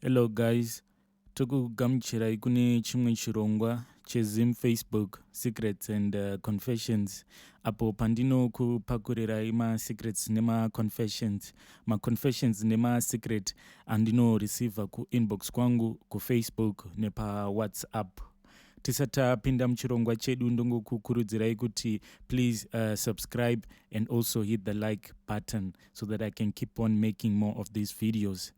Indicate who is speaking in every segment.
Speaker 1: Hello guys, tokugamuchirai kune chimwe chirongwa cheZim Facebook Secrets and uh, Confessions apo pandinokupakurirai masecrets nemaconfessions maconfessions nemasecret andinoreceiva kuinbox kwangu kufacebook nepawhatsapp tisati tapinda muchirongwa chedu ndongokukurudzirai kuti please uh, subscribe and also hit the like button so that i can keep on making more of these videos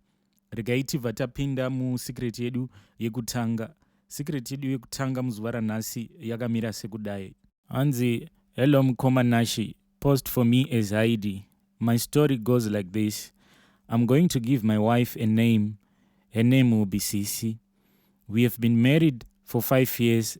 Speaker 1: regai tibva tapinda musecret yedu yekutanga secret yedu yekutanga muzuva ranhasi yakamira sekudai hanzi hello mukoma nashi post for me as id my story goes like this i'm going to give my wife a name her name will be sisi we have been married for five years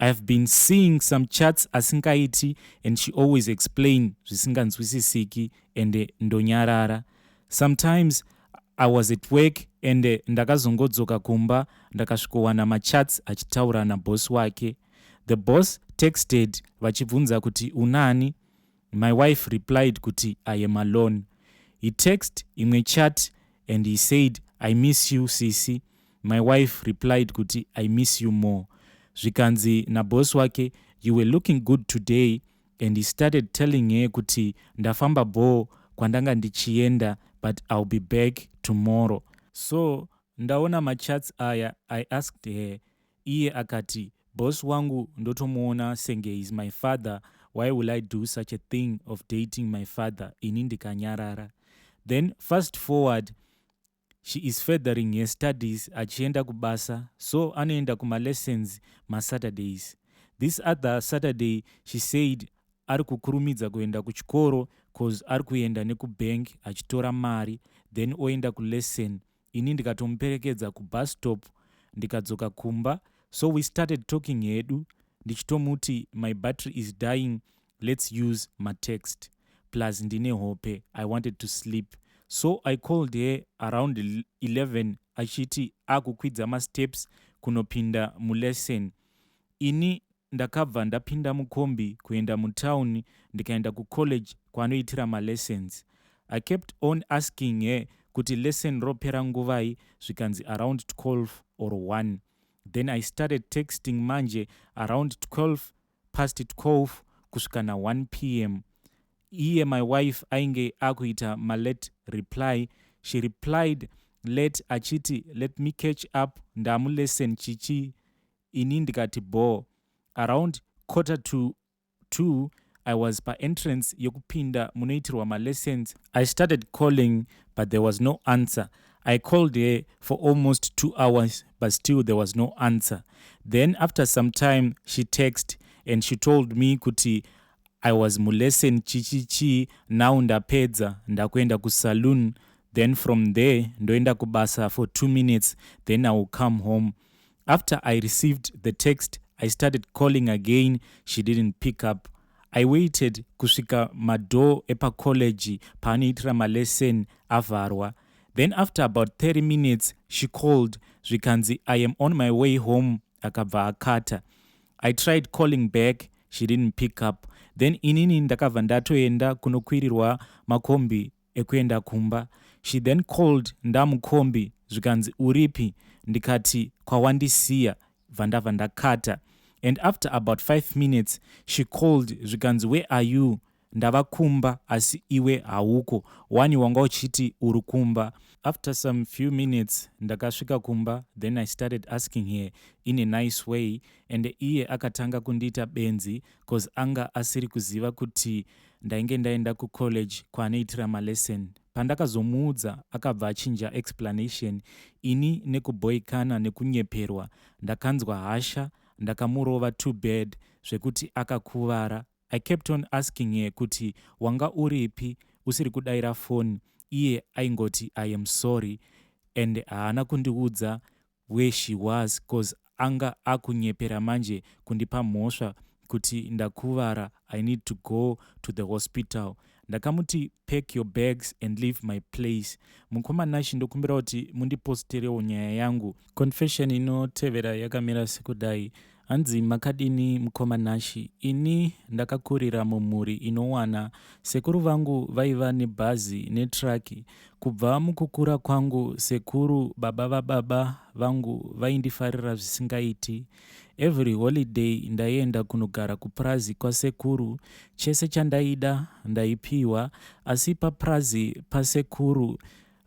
Speaker 1: I have been seeing some chats asingaiti and she always explain zvisinganzwisisiki and ndonyarara. Sometimes I was at work and ndakazongodzoka kumba ndakasvikowana machats achitaura naboss wake. The boss texted vachibvunza kuti unani? My wife replied kuti I am alone. He text imwe chat and he said I miss you sisi. My wife replied kuti I miss you more. Zvikanzi naboss wake you were looking good today and he started telling her kuti ndafamba bhoo kwandanga ndichienda but I'll be back tomorrow. So ndaona machats aya I asked her Iye akati boss wangu ndotomuona senge he's my father why will I do such a thing of dating my father ini ndikanyarara. Then fast forward she is furthering her studies achienda kubasa so anoenda kuma lessons ma Saturdays. This other Saturday she said ari kukurumidza kuenda kuchikoro coz ari kuenda neku bank achitora mari then oenda ku lesson ini ndikatomuperekedza kubus stop ndikadzoka kumba so we started talking hedu ndichitomuti my battery is dying lets use matext plus ndine hope i wanted to sleep so i called her around 11 achiti akukwidza masteps kunopinda mulesson Ini ndakabva ndapinda mukombi kuenda mutown ndikaenda kucollege kwaanoitira malessons. I kept on asking her kuti lesson ropera nguvai zvikanzi around 12 or 1. Then I started texting manje around 12 past 12 kusvika na 1 pm. Iye my wife ainge akuita malate reply. She replied late achiti let me catch up ndamulessen chichi ini ndikati bhoo. Around quarter to two I was paentrance yekupinda munoitirwa malessons. I started calling but there was no answer. I called her for almost two hours but still there was no answer. Then after some time she text and she told me kuti I was mulesson chichi chii now ndapedza ndakuenda kusaloon then from there ndoenda kubasa for two minutes then I will come home. After I received the text, I started calling again, she didn't pick up. I waited kusvika madoor epacollege paanoitira malesson avharwa. Then after about 30 minutes, she called zvikanzi I am on my way home akabva akata. I tried calling back, she didn't pick up. Then inini ndakabva ndatoenda kunokwirirwa makombi ekuenda kumba she then called ndamukombi zvikanzi uripi ndikati kwawandisiya bva ndabva ndakata and after about 5 minutes she called zvikanzi where are you ndava kumba asi iwe hauko wani wanga uchiti uri kumba after some few minutes ndakasvika kumba then i started asking her in a nice way and iye akatanga kundiita benzi cause anga asiri kuziva kuti ndainge ndaenda kucollege kwaanoitira malesson pandakazomuudza akabva achinja explanation ini nekubhoikana nekunyeperwa ndakanzwa hasha ndakamurova too bad zvekuti akakuvara i kept on asking her kuti wanga uripi usiri kudaira foni iye aingoti i am sorry and haana kundiudza where she was coz anga akunyepera manje kundipa mhosva kuti ndakuvara I need to go to the hospital. Ndakamuti pack your bags and leave my place. Mukoma Nashy ndokumbira kuti mundiposterewo nyaya yangu. Confession inotevera yakamira sekudai. Hanzi makadini mukoma Nashi ini ndakakurira mumhuri inowana sekuru vangu vaiva nebhazi netruck kubva mukukura kwangu sekuru baba vababa vangu vaindifarira zvisingaiti every holiday ndaienda kunogara kupurazi kwasekuru chese chandaida ndaipiwa asi papurazi pasekuru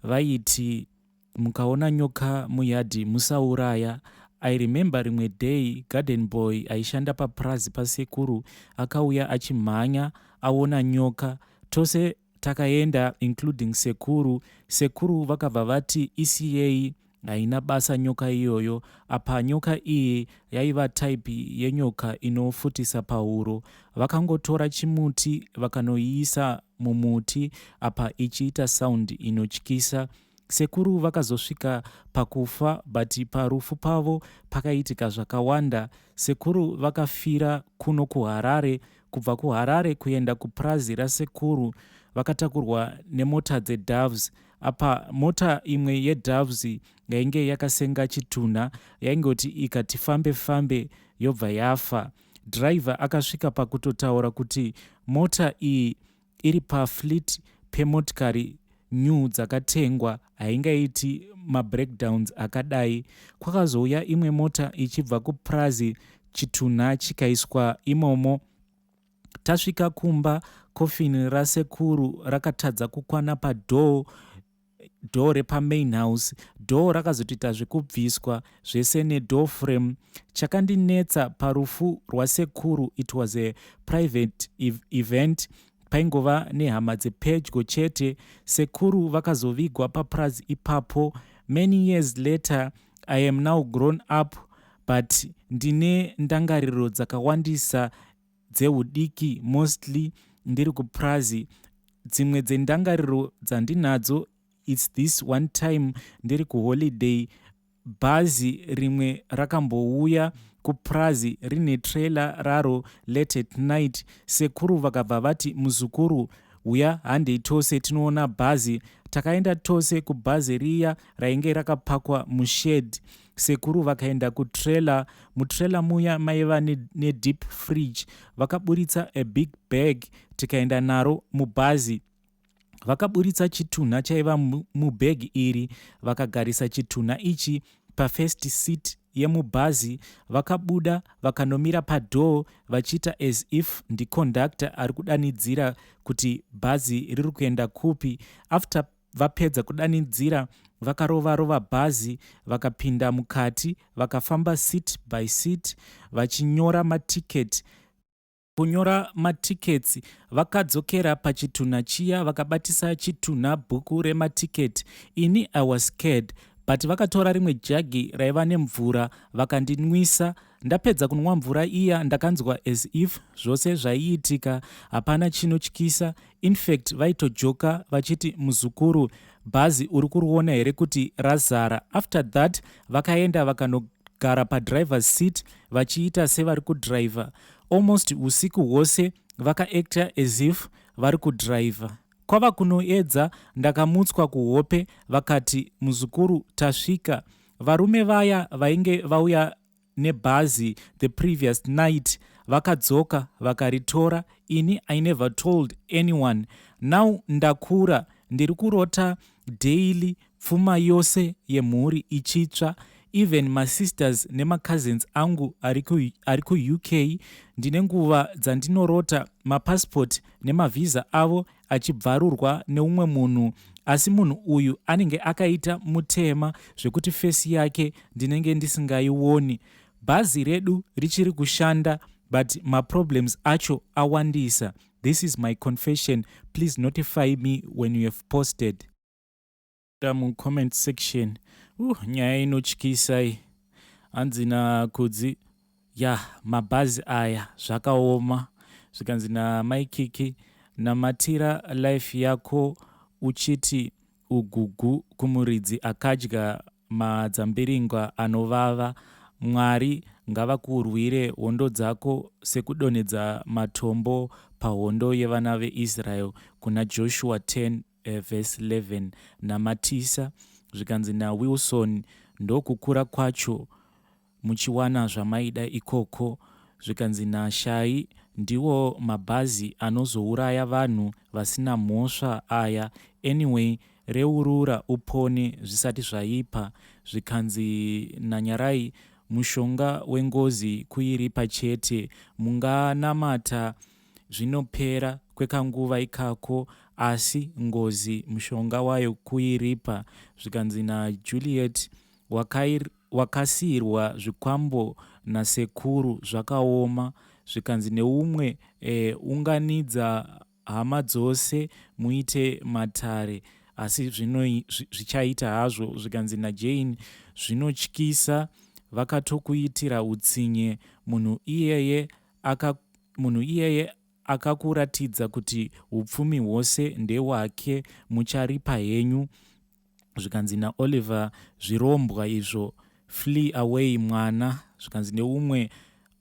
Speaker 1: vaiti mukaona nyoka muyard musauraya I remember rimwe day garden boy aishanda papurazi pasekuru akauya achimhanya aona nyoka tose takaenda including sekuru sekuru vakabva vati isiyei haina basa nyoka iyoyo apa nyoka iyi yaiva type yenyoka inofutisa pahuro vakangotora chimuti vakanoiisa mumuti apa ichiita sound inotyisa Sekuru vakazosvika pakufa but parufu pavo pakaitika zvakawanda. Sekuru vakafira kuno kuHarare, kubva kuHarare kuenda kupurazi rasekuru vakatakurwa nemota dzeDoves. Apa mota imwe yeDoves yainge yakasenga chitunha yaingoti ikati fambe fambe yobva yafa. Driver akasvika pakutotaura kuti mota iyi iri pafleet pemotikari new dzakatengwa haingaiti mabreakdowns akadai. Kwakazouya imwe mota ichibva kupurazi chitunha chikaiswa imomo. Tasvika kumba coffin rasekuru rakatadza kukwana padoor door repa main house door rakazotoita zvekubviswa zvese ne door frame chakandinetsa parufu rwasekuru it was a private event paingova nehama dzepedyo chete sekuru vakazovigwa papurazi ipapo many years later i am now grown up but ndine ndangariro dzakawandisa dzehudiki mostly ndiri kupurazi dzimwe dzendangariro dzandinadzo its this one time ndiri kuholiday bhazi rimwe rakambouya kupurazi rine trailer raro late at night sekuru vakabva vati muzukuru huya handei tose tinoona bhazi takaenda tose kubhazi riya rainge rakapakwa mushed Sekuru vakaenda kutrailer, mutrailer muya maiva nedeep ne fridge vakaburitsa a big bag tikaenda naro mubhazi. Vakaburitsa chitunha chaiva mubag iri vakagarisa chitunha ichi pafirst seat yemubhazi vakabuda vakanomira padoor vachiita as if ndiconductor ari kudanidzira kuti bhazi riri kuenda kupi after Vapedza kudanidzira vakarova rova bhazi vakapinda mukati vakafamba seat by seat vachinyora maticket kunyora matickets vakadzokera pachitunha chiya vakabatisa chitunha bhuku rematicket ini i was scared but vakatora rimwe jagi raiva nemvura vakandinwisa Ndapedza kunwa mvura iya ndakanzwa as if zvose zvaiitika hapana chinotyisa infact vaitojoka vachiti muzukuru bhazi uri kuriona here kuti razara after that vakaenda vakanogara padrivers seat vachiita sevari kudriver almost usiku hwose vakaacta as if vari kudriver kwava kunoedza ndakamutswa kuhope vakati muzukuru tasvika Varume vaya vainge vauya nebhazi the previous night vakadzoka vakaritora ini i never told anyone now ndakura ndiri kurota daily pfuma yose yemhuri ichitsva even masisters nemacousins angu ari kuuk ndine nguva dzandinorota mapassport nemavhiza avo achibvarurwa neumwe munhu asi munhu uyu anenge akaita mutema zvekuti fesi yake ndinenge ndisingaioni bhazi redu richiri kushanda but maproblems acho awandisa this is my confession please notify me when you have posted Ka mu comment section uh nyaya inotyisa iyi hanzi na kudzi ya mabhazi aya zvakaoma zvikanzi na mai kiki namatira life yako uchiti ugugu kumuridzi akadya madzambiringwa anovava mwari ngavakurwire hondo dzako sekudonhedza matombo pahondo yevana veisrael kuna joshua 10 E, verse 11 namatisa zvikanzi naWilson ndokukura kwacho muchiwana zvamaida ikoko zvikanzi naShai ndiwo mabhazi anozouraya vanhu vasina mhosva aya anyway reurura upone zvisati zvaipa zvikanzi naNyarai mushonga wengozi kuiripa chete munganamata zvinopera kwekanguva ikako asi ngozi mushonga wayo kuiripa zvikanzi naJuliet wakasiirwa zvikwambo nasekuru zvakaoma zvikanzi neumwe unganidza hama dzose muite matare asi zvichaita hazvo zvikanzi naJane zvinotyisa vakatokuitira utsinye munhu iyeye aka, munhu iyeye akakuratidza kuti upfumi hwose ndehwake mucharipa henyu zvikanzi naoliver zvirombwa izvo flee away mwana zvikanzi neumwe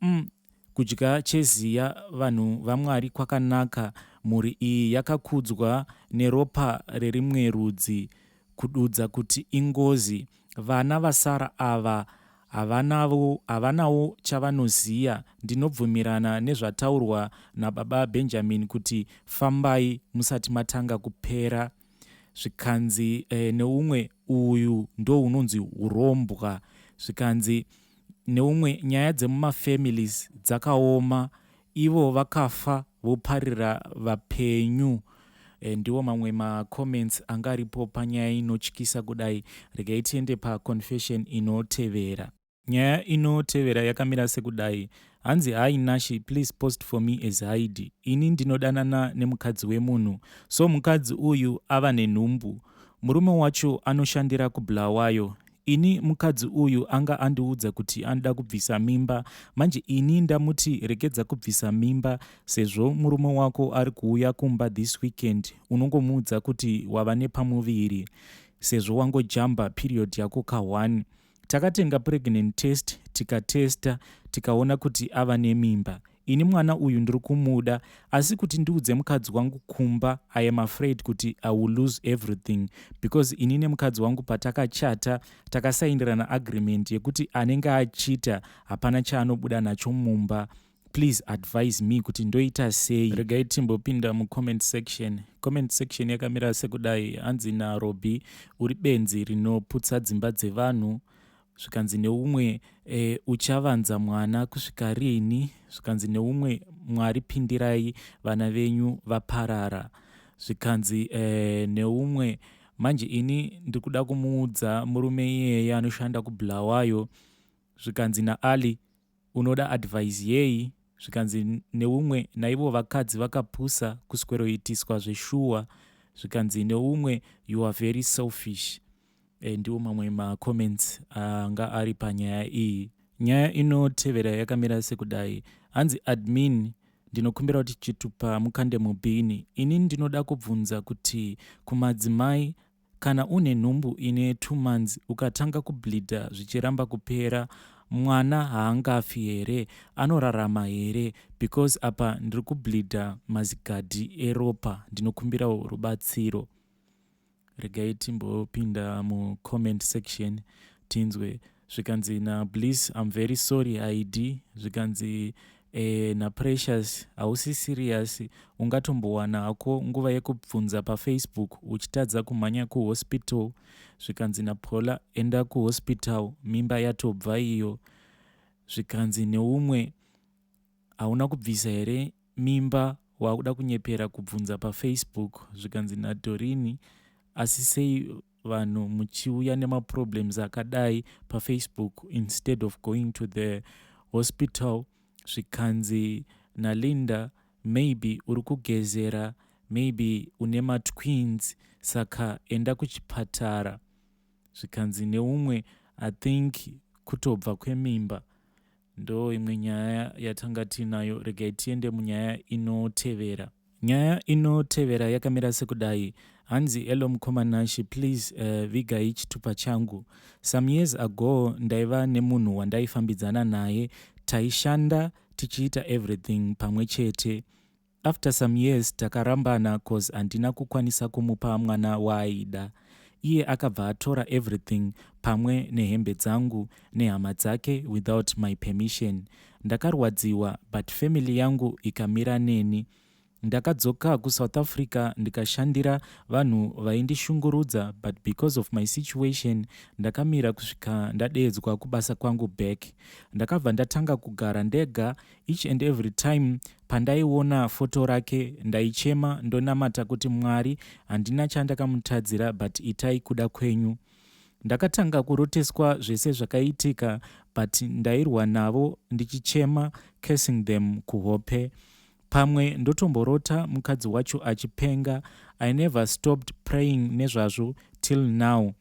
Speaker 1: mm, kudya cheziya vanhu vamwari kwakanaka mhuri iyi yakakudzwa neropa rerimwe rudzi kududza kuti ingozi vana vasara ava Havanawo havanawo chavanoziya ndinobvumirana nezvataurwa nababa Benjamin kuti fambai musati matanga kupera zvikanzi eh, neumwe uyu ndounonzi hurombwa zvikanzi neumwe nyaya dzemumafamilies dzakaoma Ivo vakafa voparira vapenyu. Ndiwo mamwe ma comments anga aripo panyaya inotyisa kudai. Regai tiende pa confession inotevera. Nyaya inotevera yakamira sekudai. Hanzi hi Nashy please post for me as Haidhi. Ini ndinodanana nemukadzi wemunhu so mukadzi uyu ava nenhumbu. Murume wacho anoshandira ku Bulawayo. Ini mukadzi uyu anga andiudza kuti anoda kubvisa mimba manje ini ndamuti rekedza kubvisa mimba sezvo murume wako ari kuuya kumba this weekend unongomuudza kuti wava nepamuviri sezvo wangojamba period yako ka one takatenga pregnant test tikatesta tikaona kuti ava nemimba Ini mwana uyu ndiri kumuda asi kuti ndiudze mukadzi wangu kumba I am afraid kuti I will lose everything because ini nemukadzi wangu patakachata takasaindirana agreement yekuti anenge achita hapana chaanobuda nacho mumba please advise me kuti ndoita sei regai timbopinda mucomment section comment section yakamira sekudai hanzi narobi uri benzi rinoputsa dzimba dzevanhu zvikanzi neumwe e, uchavanza mwana kusvika rini zvikanzi neumwe mwari pindirai vana venyu vaparara zvikanzi e, neumwe manje ini ndiri kuda kumuudza murume iyeye anoshanda kubulawayo zvikanzi naali unoda advise yei zvikanzi neumwe naivo vakadzi vakapusa kusweroitiswa zveshuwa zvikanzi neumwe you are very selfish e, ndiwo mamwe macomments anga ari panyaya iyi nyaya inotevera yakamira sekudai hanzi admin ndinokumbira kuti chitupa mukande mubhini ini ndinoda kubvunza kuti kumadzimai Kana une nhumbu ine two months ukatanga kubleeder zvichiramba kupera mwana haangafi here anorarama here because apa ndiri kubleeder mazigadhi eropa ndinokumbirawo rubatsiro. Regai timbopinda mucomment section tinzwe zvikanzi nabliss im very sorry id zvikanzi eh, naprecious hausi serious ungatombowana hako nguva yekubvunza pafaceebook uchitadza kumhanya kuhospital zvikanzi napola enda kuhospital mimba yatobva iyo zvikanzi neumwe hauna kubvisa here mimba waakuda kunyepera kubvunza pafacebook zvikanzi nadorini asi sei vanhu muchiuya nemaproblems akadai pafacebook instead of going to the hospital zvikanzi nalinda maybe uri kugezera maybe une matwins saka enda kuchipatara zvikanzi neumwe i think kutobva kwemimba Ndo imwe nyaya yatanga tiinayo regai tiende munyaya inotevera. Nyaya inotevera yakamira sekudai. Hanzi hello mukoma Nashe please uh, vigai chitupa changu. Some years ago ndaiva nemunhu wandaifambidzana naye taishanda tichiita everything pamwe chete. After some years takarambana coz handina kukwanisa kumupa mwana waaida. Iye akabva atora everything pamwe nehembe dzangu nehama dzake without my permission. Ndakarwadziwa but family yangu ikamira neni. Ndakadzoka kuSouth Africa ndikashandira vanhu vaindishungurudza but because of my situation ndakamira kusvika ndadeedzwa kubasa kwangu back. Ndakabva ndatanga kugara ndega Each and every time pandaiona foto rake ndaichema ndonamata kuti Mwari handina chandakamutadzira but itai kuda kwenyu. Ndakatanga kuroteswa zvese zvakaitika but ndairwa navo ndichichema cursing them kuhope. Pamwe ndotomborota mukadzi wacho achipenga. I never stopped praying nezvazvo till now.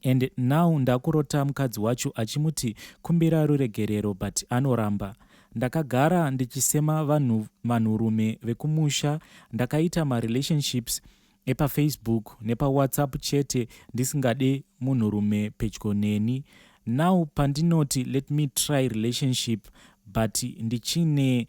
Speaker 1: and now ndakurota mukadzi wacho achimuti kumbira ruregerero but anoramba. Ndakagara ndichisema vanhu vanhurume vekumusha ndakaita marelationships epafacebook nepawhatsapp chete ndisingade munhurume pedyo neni. Now pandinoti let me try relationship but ndichine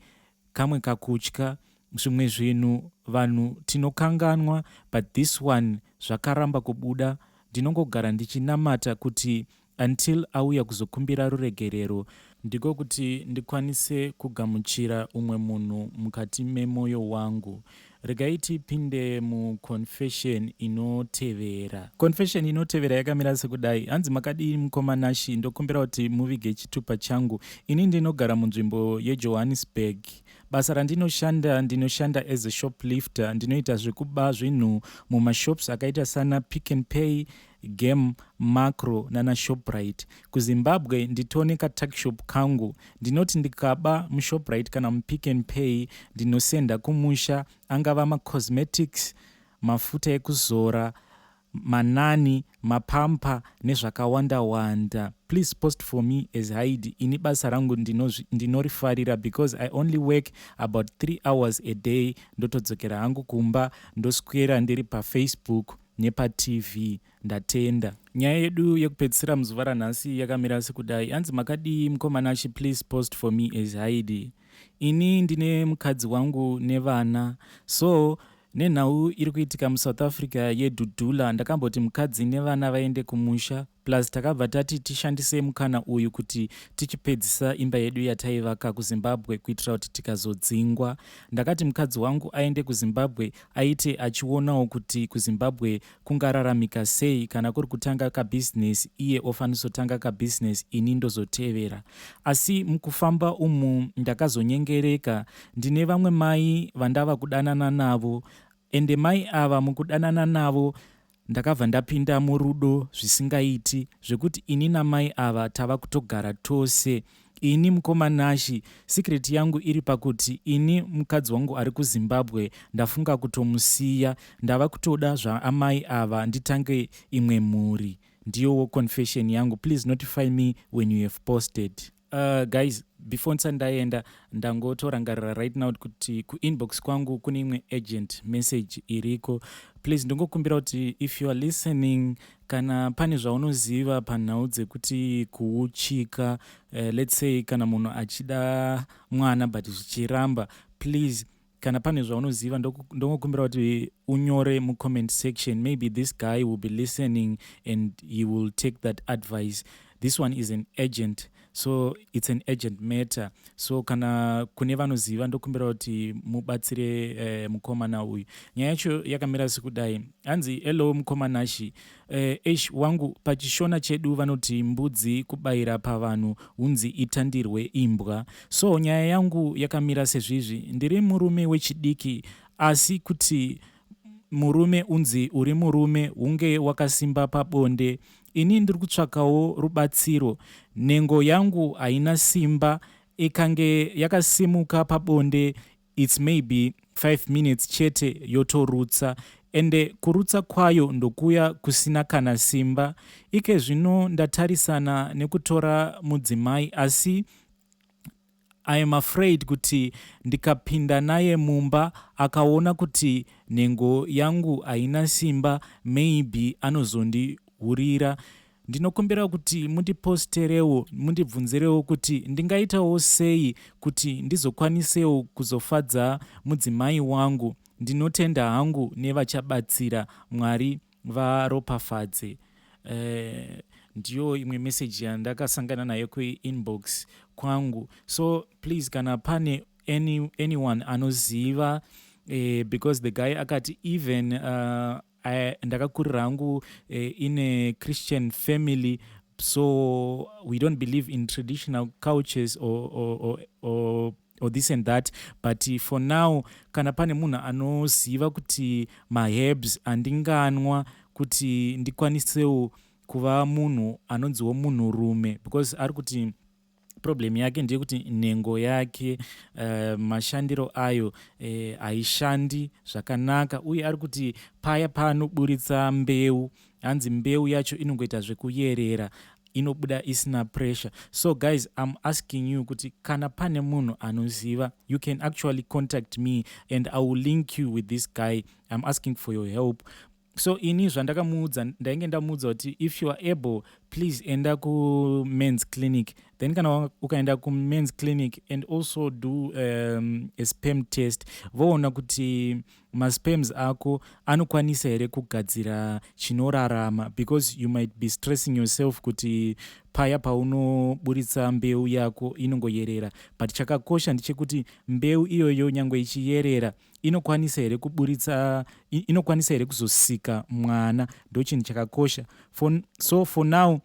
Speaker 1: kamwe kakutya zvimwe zvinhu vanhu tinokanganwa but this one zvakaramba kubuda ndinongogara ndichinamata kuti until auya kuzokumbira ruregerero ndiko kuti ndikwanise kugamuchira umwe munhu mukati memoyo wangu Regai tipinde muconfession inotevera. Confession inotevera yakamira sekudai. Hanzi makadii mukoma Nashi, ndokumbira kuti muvige chitupa changu. Ini ndinogara munzvimbo yeJohannesburg. Basa randinoshanda ndinoshanda as a shoplifter, ndinoita zvekuba zvinhu mumashops akaita sana Pick n Pay, Gem, Makro nana Shoprite. KuZimbabwe nditone katuckshop kangu. Ndinoti ndikaba muShoprite kana muPick n Pay ndinosenda kumusha angava macosmetics, mafuta ekuzora, manani, mapamper nezvakawanda wanda. Please post for me as Haidi ini basa rangu ndinorifarira because I only work about three hours a day ndotodzokera hangu kumba ndoswera ndiri paFacebook. nepaTV. Ndatenda. Nyaya yedu yekupedzisira muzuva ranhasi yakamira sekudai. Hanzi makadii mukoma Nashy please post for me as Haidi. Ini ndine mukadzi wangu nevana so nenhau iri kuitika musouth africa yedhudhula ndakamboti mukadzi nevana vaende kumusha plus takabva tati tishandise mukana uyu kuti tichipedzisa imba yedu yataivaka kuzimbabwe kuitira kuti tikazodzingwa ndakati mukadzi wangu aende kuzimbabwe Aiti achionawo kuti kuZimbabwe kungararamika sei kana kuri kutanga kabusiness iye ofanisotanga kabusiness ini ndozotevera. Asi mukufamba umu ndakazonyengereka ndine vamwe mai vandava kudanana navo ende mai ava mukudanana navo Ndakabva ndapinda murudo zvisingaiti zvekuti ini namai ava tava kutogara tose. Ini mukoma Nashy secret yangu iri pakuti ini mukadzi wangu ari kuZimbabwe ndafunga kutomusiya. Ndava kutoda zvaamai ava nditange imwe mhuri. Ndiyowo confession yangu please notify me when you have posted. Uh, guys before ndisati ndaenda ndangotorangarira right now kuti kuinbox kwangu kune imwe agent message iriko please ndongokumbira kuti if you are listening kana pane zvaunoziva panhau dzekuti kuuchika uh, let's say kana munhu achida mwana but zvichiramba please kana pane zvaunoziva ndongokumbira kuti unyore mucomment section maybe this guy will be listening and he will take that advice this one is an agent so it's an agent matter so kana kune vanoziva ndokumbira kuti mubatsire uh, mukomana uyu nyaya yacho yakamira sekudai hanzi hello mukomanashi Eh, eish wangu pachishona chedu vanoti mbudzi kubaira pavanhu hunzi itandirwe imbwa so nyaya yangu yakamira sezvizvi ndiri murume wechidiki asi kuti murume unzi uri murume hunge wakasimba pabonde ini ndiri kutsvakawo rubatsiro nhengo yangu haina simba ikange yakasimuka pabonde its maybe five minutes chete yotorutsa ende kurutsa kwayo ndokuya kusina kana simba ikezvino ndatarisana nekutora mudzimai asi I am afraid kuti ndikapinda naye mumba akaona kuti nhengo yangu haina simba maybe anozondihurira Ndinokumbira kuti mundiposterewo mundibvunzirewo kuti ndingaitawo sei kuti ndizokwanisewo kuzofadza mudzimai wangu. Ndinotenda hangu nevachabatsira. Mwari varopafadze. Eh, ndiyo imwe message yandakasangana nayo kuinbox kwangu. So please kana pane any, anyone anoziva eh, because the guy akati even uh, I, ndakakurira hangu uh, in a christian family so we don't believe in traditional cultures or, or, or, or or this and that but for now kana pane munhu anoziva kuti maherbs andinganwa kuti ndikwanisewo kuva munhu anonziwo munhurume because ari kuti problem yake ndeyekuti nhengo yake uh, mashandiro ayo eh, haishandi eh, zvakanaka uye ari kuti paya paanoburitsa mbeu hanzi mbeu yacho inongoita zvekuyerera inobuda isina pressure so guys im asking you kuti kana pane munhu anoziva you can actually contact me and i will link you with this guy im asking for your help So ini zvandakamuudza ndainge ndamuudza kuti if you are able please enda kumans clinic then kana ukaenda kumans clinic and also do um, a spam test voona kuti maspams ako anokwanisa here kugadzira chinorarama because you might be stressing yourself kuti paya paunoburitsa mbeu yako inongoyerera but chakakosha ndechekuti mbeu iyoyo nyange ichiyerera inokwanisa here kuburitsa inokwanisa here kuzosika mwana ndochinhu chakakosha for, so for now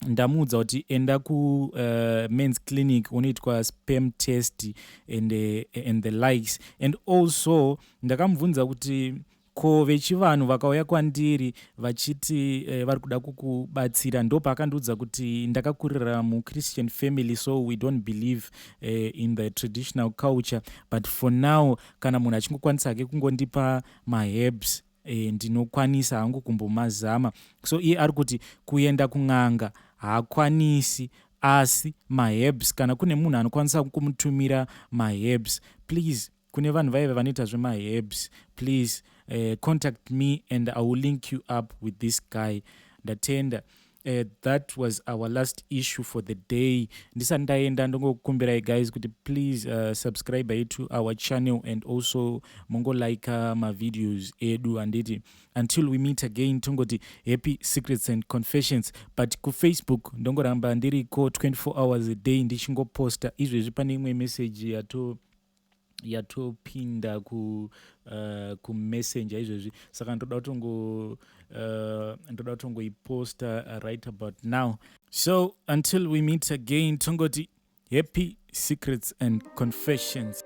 Speaker 1: ndamuudza kuti enda kumens eh, uh, clinic unoitwa spam test and, uh, and the likes and also ndakamubvunza kuti Ko vechivanhu vakauya kwandiri vachiti vari kuda kukubatsira ndopaakandiudza kuti ndakakurira muChristian family so we don't believe in the traditional culture but for now kana munhu achingokwanisa hake kungondipa maherbs ndinokwanisa hangu kumbomazama so iye ari kuti kuenda kun'anga haakwanisi asi maherbs kana kune munhu anokwanisa kumutumira maherbs please kune vanhu vaive vanoita zvemaherbs please uh, contact me and i will link you up with this guy ndatenda Uh, that was our last issue for the day ndisati ndaenda ndongokumbirai guys kuti please uh, subscribe ye to our channel and also mongolika mavideos edu handiti until we meet again tongoti happy secrets and confessions but kufacebook ndongoramba ndiriko 24 hours a day ndichingoposta izvezvi pane imwe message yato yatopinda ku uh, kumessenger izvezvi saka ndoda kutongo uh, ndoda kutongoiposta right about now so until we meet again tongoti happy secrets and confessions